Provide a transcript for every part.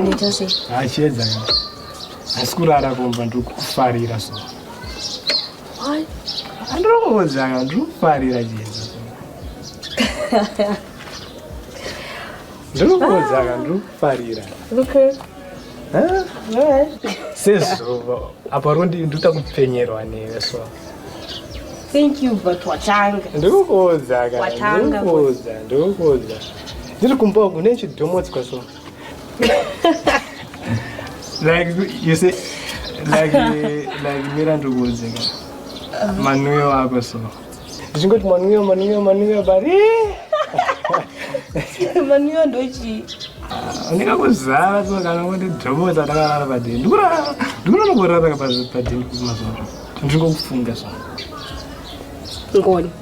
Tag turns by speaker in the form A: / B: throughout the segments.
A: nditose achiedza
B: asi kurara kumba ndiri kufarira so
A: andiri
B: kuudzaka ndiri kufarira chiedza ndiri kuudzaka ndiri kufarira
A: sezuva
B: apa rondi ndikuta kupfenyerwa newe so
A: thank you but watanga ndiri kuudzaka
B: ndiri kuudza ndiri kuudza Ndiri kumba uku nechidhomodzwa so. like you say like like mirandu kuudze ka manwiyo ako so ndichingoti manwiyo manwiyo manwiyo bari
A: manwiyo ndochii unika
B: kuzara so kana kuti dhomota takarara padini ndikurara ndikurara kurara padini kumazuva ndingokufunga so
A: ngoni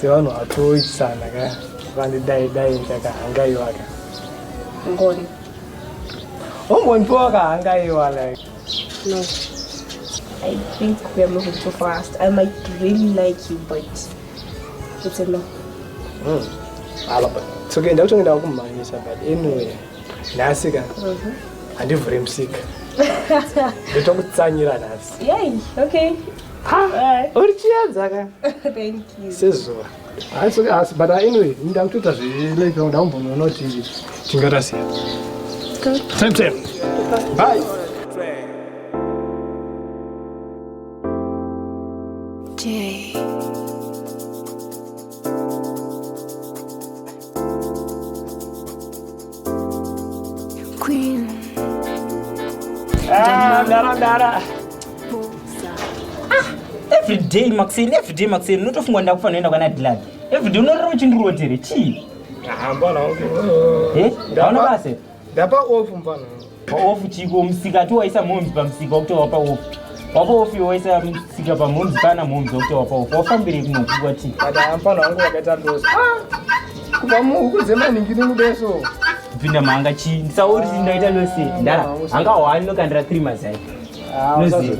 B: sevanhu vatoitisana ka vakandidai dai ndakahangaiwaka ngoni ombonipiwa wakahangaiwa like no
A: i think we are moving too fast i might really like you but it's a no mm. alaba
B: soke ndakutonge ndakumhanyisa but anyway nhasi ka mhm. handivhure musika ndotokutsanyira nhasi yai okay
A: uri
B: chiedza ka
A: sezuva
B: asi but anyway ndakutoita zvilepi vangu ndakumbonoonawo tingarasiya time time bye
A: Jay. Queen. Ah,
B: dara dara. Ah,
C: every day Maxine, every day Maxine, unotofunga ndakufa noenda kwana Dylan. Every day unorira uchindirotera chii? Hamba na. Eh,
B: hauna basa.
C: Ndapa off
B: mfana. Pa off chiko
C: musika tu waisa momzi pa musika wakuti wapa off. Wapa off yo waisa musika pa momzi kana momzi wakuti wapa off. Wafambire kuno kuwa ti. Ada mfana wangu wakaita
B: ndozi. Ah. Kuba mu ukuze mani ngini mudeso. Vinda manga
C: chi. Ndisauri ah, ndaita losi. Ndara. Anga wani no kandira 3 mazai. Ah, losi.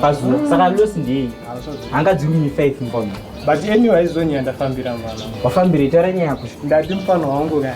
C: Pazuwa. Mm. Saka losi ndei. Ah, Anga dziri mi 5 mfana. But anyway
B: izonyanda fambira mwana. Wafambire tara nyaya
C: kushu. Ndati mfana wangu
B: kana.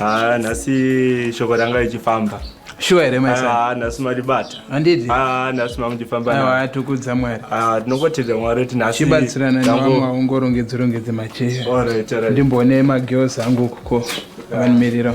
D: Ah, nhasi shoko ranga richifamba shuwa here maisa
E: Ah, nhasi maribata
D: handidi Ah,
E: nhasi mamuchifamba
D: naro. aiwa atukudza mwari Ah,
E: tinongotenda mwari
D: kuti nhasi chibatsirana tango- nevamwe
E: vaungorongedze rongedze macheya Alright, alright. ndimboone magirls angu ukuko vanimirira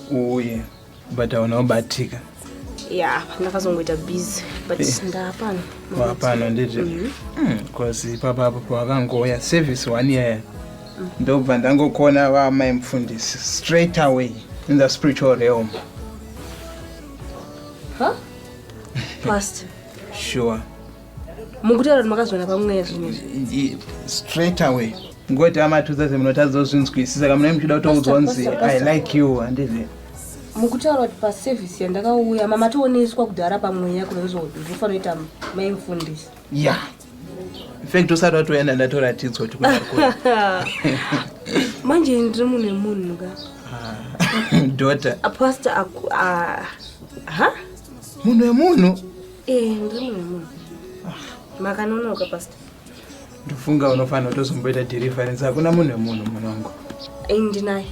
E: uye but hauna kubatika ya
A: ndakazongoita busy but eh. ndapano wapano ndizvo
E: bcause mhm. hmm, ipapa apo pawakangoya service one year mm. ndobva ndangokona vamai mufundisi straight away in the spiritual realm huh?
A: past sure mukutaura kuti makazviona pamweya zvinhu izvi straight away
E: ngoti amatudza semunotadza kuzvinzwisisa kamunai muchida kutoudzwa nzi i like you handizi mukutaura
A: kuti paservice yandakauya mamatooneswa kudhara pamweya kunonzodi ndofanoita mai mufundisi ya
E: infact usati watoenda ndatoratidzwa kuti kunakura
A: manje ndiri munhu wemunhu ka
E: daughter apasta
A: aku ah, ha
E: munhu wemunhu Eh, ndiri
A: munhu wemunhu. Makanonoka pastor. ndofunga
E: unofanira kutozomboita deliverance hakuna munhu wemunhu munongo Eh, ndinaye.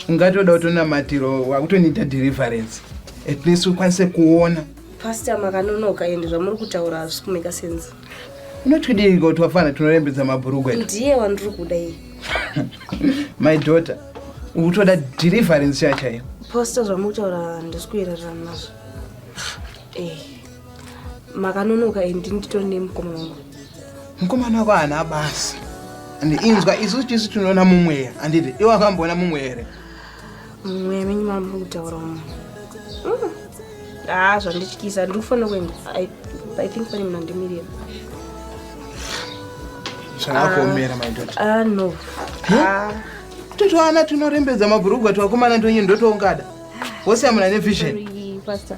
A: ungatoda
E: kutonamatiro wakutoniita deliverance at least ukwanise kuona Pastor
A: makanonoka ende zvamuri kutaura hazvisi kumeka sense. unotidii
E: kuti wafana tinorembedza mabhurugu edu Ndiye wandiri kuda
A: iye.
E: my daughter ukutoda deliverance yachaiyo Pastor zvamuri kutaura
A: handisi kuererana nazvo. eh, makanonoka and nditori nemukoma wangu mukomana wako
E: haana basa and inzwa isusu tisu tinoona mumweya handiti iwe akamboona mumweya here mumweya
A: menyu mambo kutaura umo mm. haa ah, zvandityisa ndiri kufanira kuenda i think pane munhu andimirira
E: zvakakuomera my daughter ah, ah no
A: ah. totoana
E: tinorembedza mabhurugwa twakomana ndonyi ndotoungada wose amuna nevision pastor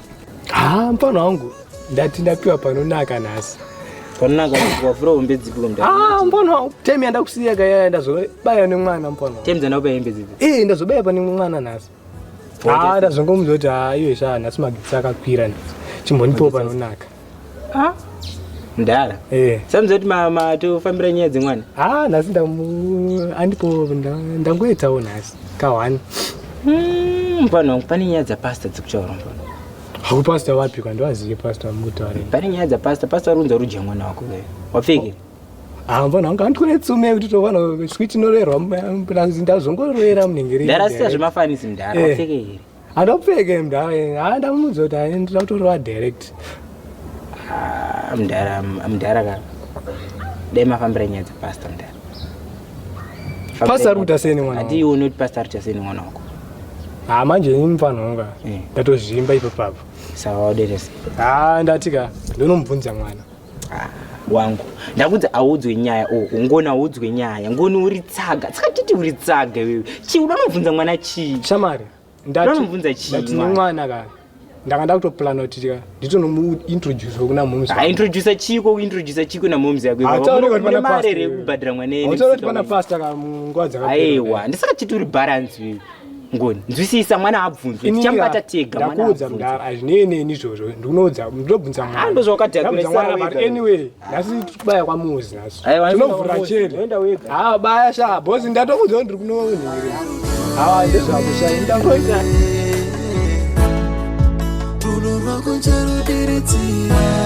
B: haa mfana wangu ndati ndapiwa panonaka nhasi panonaka
C: wavhura hombe dzipi kumda ah mfana wangu
B: time yandakusiya kaya ndazobaya nemwana mfana time dzandakupa hembe dzipi
C: eh ndazobaya pane mwana
B: nhasi haa ah, ndazongomuza kuti haa ah, iwe shaa nhasi magitsi akakwira nhasi chimbonipiwo panonaka Ah, mdara
C: Eh. samudza kuti ma- matofambira nyaya dzemwana Ah, nhasi ndamu
B: andipo nda- ndangoitawo nhasi kahwani. Mm,
C: mfana wangu pane nyaya dzapasta dziri kutaura mfana Haku pastor
B: wapi kwa ndoaziye pastor mutaure. pane nyaya dzapasta
C: pasta vari kunzi vari kudya mwana wako wewe wapfekera Ah, mbona
B: wanga andikune tsume kuti tovana switi norerwa mplazi ndazongorera munenge ri. mdara sita zvemafanisi
C: mdara Eh. wapfeke here Andopfeke mdara
B: yeye. Ah ndamudza kuti aendera kutorova direct. Ah
C: mdara mdara ka. Dai mafambira nyaya dzepastor mdara.
B: Pastor ari kuita sei nemwana? Ati iwe unoti pastor ari kuita sei
C: nemwana wako? Ah manje
B: ini mfana wangu. Eh. Ndatozvimba ipo papo. Sawa
C: waderese.
B: Ah ndatika ndonomubvunza
C: mwana.
B: Ah,
C: wangu ndakunzi audzwe nyaya o oh, ngoni audzwe nyaya ngoni uri tsaga tsakatiti uri tsaga iwewe chii uda unobvunza mwana chii shamari
B: ndanomubvunza
C: chiitine mwana ka
B: ndanga ndakutoplana kuti ka nditonomuintroduce kuna moms aintroduce chiko
C: kuintroduce chiko namoms yakomarere
B: yekubhadhira
C: mwaneneuti pana pasta ka
B: munguva dzakaaiwa ndisakatiti uri
C: balance wewe ngoni nzwisisa mwana haabvunzwe tichamubata tega ndakuudza mudhara hazvinei
B: neni izvozvo ndikunoudza ndinobvunza mwanando zvawakadhaanyway
C: nhasi
B: tikubaya kwamuzi nhasi tinovhura chete haa baya sha bhosi ndatokuudza kuti ndiri kunonhiri haa ndezvakushai ndakuita
F: tunorwa kucharudiridzira